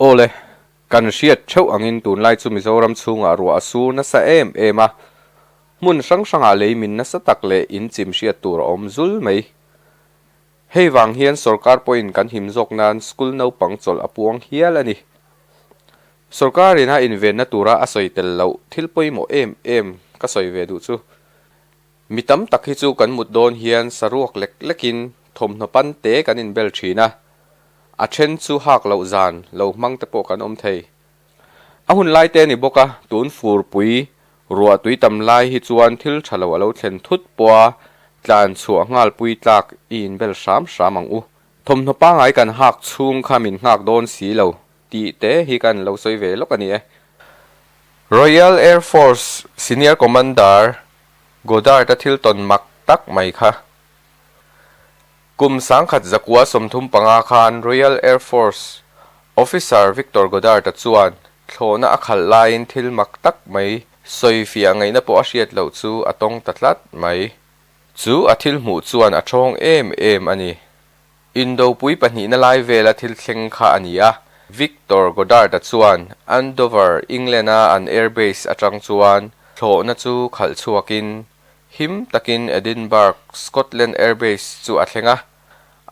Aw le, kan hriat theuh angin tunlai chu Mizoram chhungah ruah a sur nasa em em a, hmun hrang hrangah leimin nasa tak leh inchim hriat tur a awm zul mai. Hei vang hian sorkar pawhin kan him zawk nan school naupang chawlh a puang hial a ni. Sorkarin a invenna tura a sawi tel loh thil pawimawh em em ka sawi ve duh chu. Mi tam tak hi chu kan mut dawn hian saruak lek lekin thawmhnaw pan te kan inbel thin a, a then chu hak loh zan, lo hmang te pawh kan awm thei. A hun lai te a ni bawk a, tun fur pui ruah tui tam lai hi chuan thil tha lo a lo thlen thut pawh a, tlan chhuah nghal pui tlak i inbel hram hram ang u. Thawmhnaw pangai kan hak chhung kha min nghak dawn si lo tih te hi kan lo sawi ve lawk a ni e. Royal Air Force Senior Commander Goddard-a thil tawn mak tak mai kha. Kum sangkhat zakua sawmthum panga khan Royal Air Force Officer Victor Goddard-a chuan thlawhna a khalh laiin thil mak tak mai sawi fiah ngaihna pawh a hriat loh chu a tawng ta tlat mai. Chu a thil hmuh chuan a ṭhawng em em a ni. Indopui pahnihna lai vela thil thleng kha a ni a, Victor Goddard-a chuan Andover, England-a an Air Base aṭang chuan thlawhna chu khalh chhuakin Him takin Edinburgh, Scotland Air Base chu a thleng a,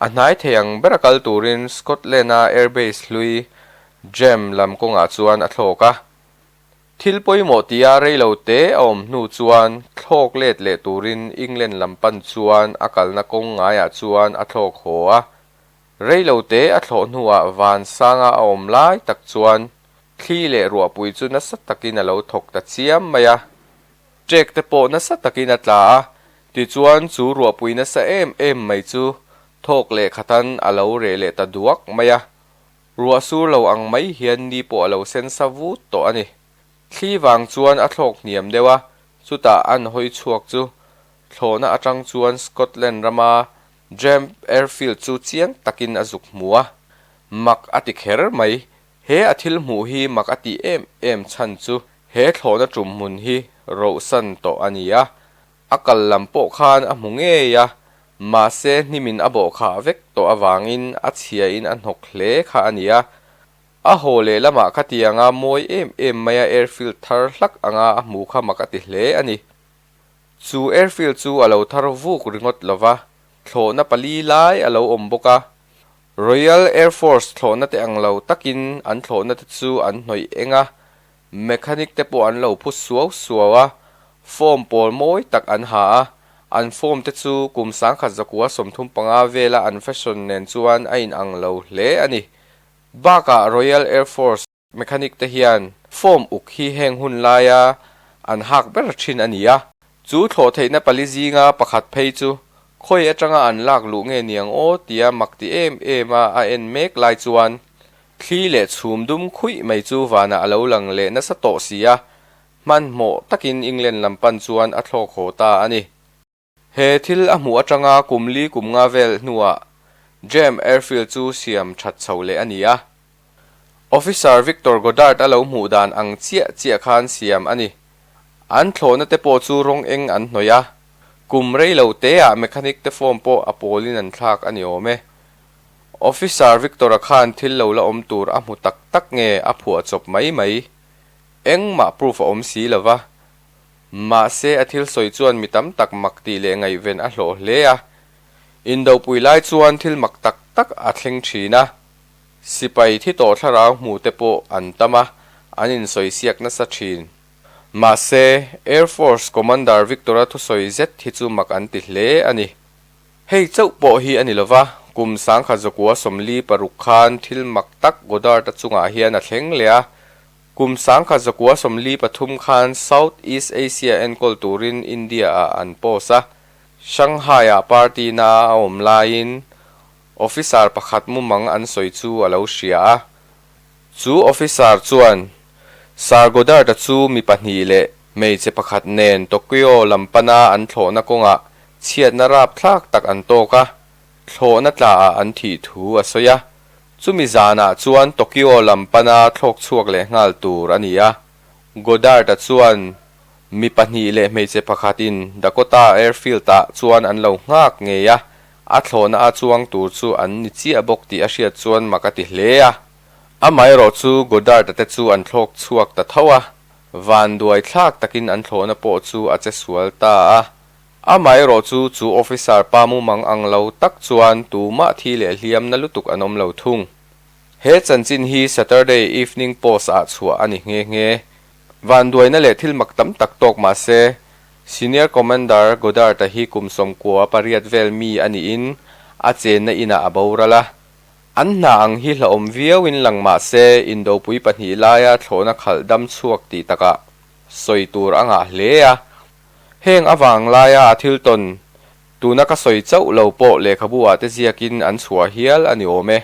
a hnai thei ang ber a kal turin Scotland-a Air Base hlui Gem lam kawngah chuan a thlawk a. Thil pawimawh tia rei lo te a awm hnu chuan thlawk let leh turin England lam pan chuan a kalna kawng ngaiah chuan a thlawk haw a. Rei lo te a thlawh hnuah van sanga a awm lai tak chuan thli leh ruahpui chu nasa takin a lo thawk ta chiam mai a. Cheque te pawh nasa takin a tla a, tichuan chu ruahpui nasa em em mai chu thawk leh khatan a lo reh leh ta duak mai a. Ruah sur lo ang mai hian ni pawh a lo sen sa vut tawh a ni. Thli vang chuan a thlawk hniam deuh a, chutah an hawi chhuak chu. Thlawhna atang chuan Scotland rama Jemp Airfield chu chiang takin a zuk hmu a, mak a ti kher mai. He a thil hmuh hi mak a tih em em chhan chu he thlawhna ṭum hmun hi rohsan tawh a ni a, a kal lam pawh khan a hmu ngei a, mahse hnimin a bawhkhah vek tawh avangin a chhia in a hnawk hle kha a nia. A haw leh lamah kha tianga mawi em em maia airfield thar hlak anga a hmu kha mak a ti hle a ni. Chu airfield chu a lo thar vuk ringawt lova, thlawhna pali lai a lo awm bawk a, Royal Air Force thlawhnate ang lo takin an thlawhnate chu an hnawih eng a, mechanic te pawh an lo phu suau suau a, form pawl mawi tak an ha a, an form te chu kum sangkhat zakua sawmthum panga vela an fashion nen chuan a inang lo hle a ni. Bakah Royal Air Force. Mechanic te hian form uk hi heng hun laia an hak ber thin a ni a, chu thlawh theihna pali zinga pakhat phei chu khawi atanga an lak luh nge niang aw tia mak ti em em a a en mek lai chuan thli leh chhum dum khuih mai chu vanah a lo lang leh nasa tawh si a, hmanhmawh takin England lam pan chuan a thlawk haw ta a ni. He thil a hmuh atanga kum li kum nga vel hnuah James Airfield chu siam that chho leh a ni a. Officer Victor Goddard a lo hmuh dan ang chiah chiah khan siam a ni. An thlawhna te pawh chu rawng eng an hnawih a, kum rei lo teah mechanic te form pawh a pawlin an thlak a ni awm e. Officer Victor-a khan thil lo la awm tur a hmu tak tak nge a phuah chawp mai mai? Engmah proof a awm si lo va. Mahse, a thil sawi chuan mi tam tak mak tih leh ngaihven a hlawh hle a. Indohpui lai chuan thil mak tak tak a thleng thin a. Sipai thi tawh thlarau hmuh te pawh an tam a, an insawisik nasa thin. Mahse, Air Force Commander Victor-a thusawi zet hi chu mak an ti hle a ni. Hei chauh pawh hi a ni lova, kum sangkhat zawkua sawmli paruk khan thil mak tak Goddard-a chungah hian a thleng leh a. Kum sangkhat zakua sawmli pathum khan South East Asia enkawl turin India ah an post a. Shanghai ah party na a awm laiin officer pakhat mumang an sawi chu a lo hria a. Chu officer chuan Sir Goddard a chu mi pahnih leh hmeichhe pakhat nen Tokyo lam pana an thlawhna kawngah chhiatna rapthlak tak an tawk a, thlawhna tla ah an thih thu a sawi a. Chumi zanah chuan Tokyo lam pana thlawk chhuak leh nghal tur a ni a. Goddard-a chuan mi pahnih leh hmeichhe pakhatin Dakota Airfield-ah chuan an lo nghak ngei a, a thlawhna a chuang tur chu an ni chiah bawk tih a hriat chuan mak a ti hle a. Amaherawh chu Goddard-a te chu an thlawk chhuak ta tho a, vanduai thlak takin an thlawhna pawh chu a che sual ta a. Amaherawh chu chu officer pa mumang ang lo tak chuan tumah thi leh hliam na lutuk an awm lo thung. He chanchin hi Saturday Evening Post ah chhuah a ni nghe nghe. Vanduaina leh thil mak tam tak tawk mahse, Senior Commander Goddard-a hi kum sawmkua pariat vel mi a niin a chenna inah a boral a. An hna ang hi hlahawm viauin lang mahse Indopui pahnih laia thlawhna khalh dam chhuak tih takah sawi tur a ngah hle a. Heng avang laia a thil tawn tuna ka sawi chauh lo pawh lehkhabuah te ziakin an chhuah hial a ni awm e.